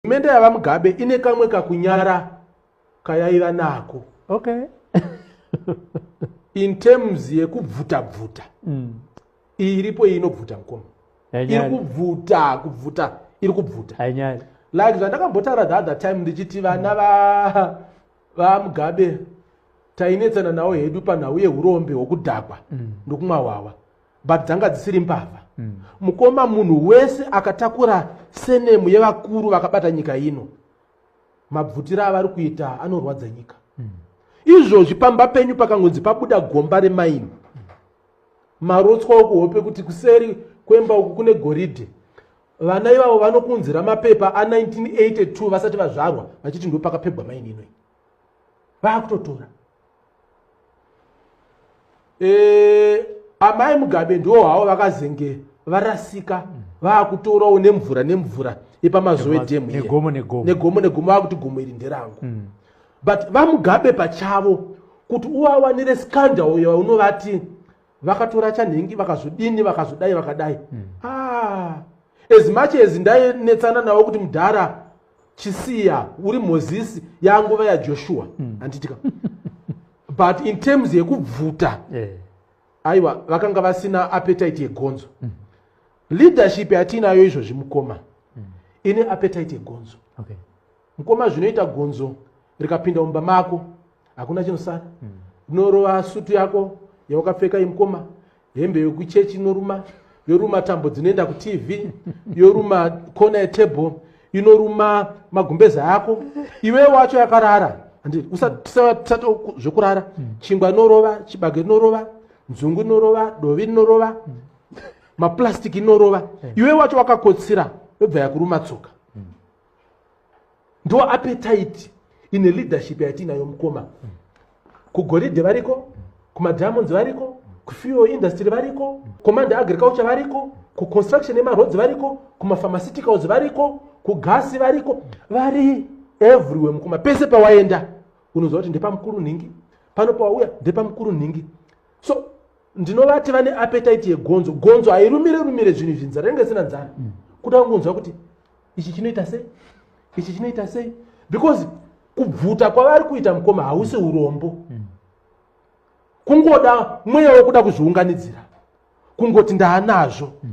hurumende yavamugabe ine kamwe kakunyara kayaiva nako okay. in terms yekubvuta bvuta mm. iripo iyi inobvuta mukoma iri kubvuta kubvuta iri kubvuta like zvandakambotaura the other time ndichiti vana va vamugabe tainetsana nawo hedu panhau yeurombe hwokudhakwa mm. ndokumwa hwawa but dzanga dzisiri mbavha mm. mukoma munhu wese akatakura senemu yevakuru vakabata nyika ino mabvutira avari kuita anorwadza nyika mm. izvozvi pamba penyu pakangonzi pabuda gomba remaini marotswa okuhope kuti kuseri kwemba uku kune goridhe vana ivavo vanokunzira mapepa a1982 vasati vazvarwa vachiti ndo pakapegwa maini inoi vakutotora eh, amai mugabe ndiwo havo vakazenge varasika vakutorawo nemvura nemvura yepamazowe dhemu negomo negomo vakuti gomo iri nderangu mm. but vamugabe pachavo kuti uvawanire scandal yaunovati vakatora chanhingi vakazodini vakazodai vakadai mm. ah, as much as ndainetsana navo kuti mudhara chisiya uri mozisi yanguva yajoshua mm. anditika but in terms yekubvuta yeah. aiwa vakanga vasina appetite yegonzo mm. leadership yatiinayo izvozvi mukoma mm. ine appetite yegonzo okay. mukoma zvinoita gonzo rikapinda mumba mako hakuna chinosara mm. rinorova sutu yako yawakapfeka imukoma hembe yokuchechi inoruma yoruma tambo dzinoenda kutv yoruma kona yetable inoruma magumbeza yako iwe wacho yakarara zvekurara hmm. chingwa inorova chibage inorova nzungu inorova dovi rinorova hmm. maplastic inorova hmm. iwe wacho wakakotsira yobva yakuruma tsoka ndo appetite in a leadership yatiinayo mukoma kugoridhe variko kumadiamonds variko kufuel industry variko command agriculture variko kuconstruction yemaroads variko kumapharmaceuticals variko kugasi variko vari everywhere mukoma pese pawaenda unoziva kuti ndepamukuru nhingi pano pawauya ndepamukuru nhingi so ndinovati vane appetite yegonzo gonzo hairumire rumire zvinhu izvi nzara inge sina nzara mm. kuda kungonzwa kuti ichi chinoita sei ichi chinoita sei because kubvuta kwavari kuita mukoma hausi urombo hmm. kungoda mweya wekuda kuzviunganidzira kungoti ndaanazvo hmm.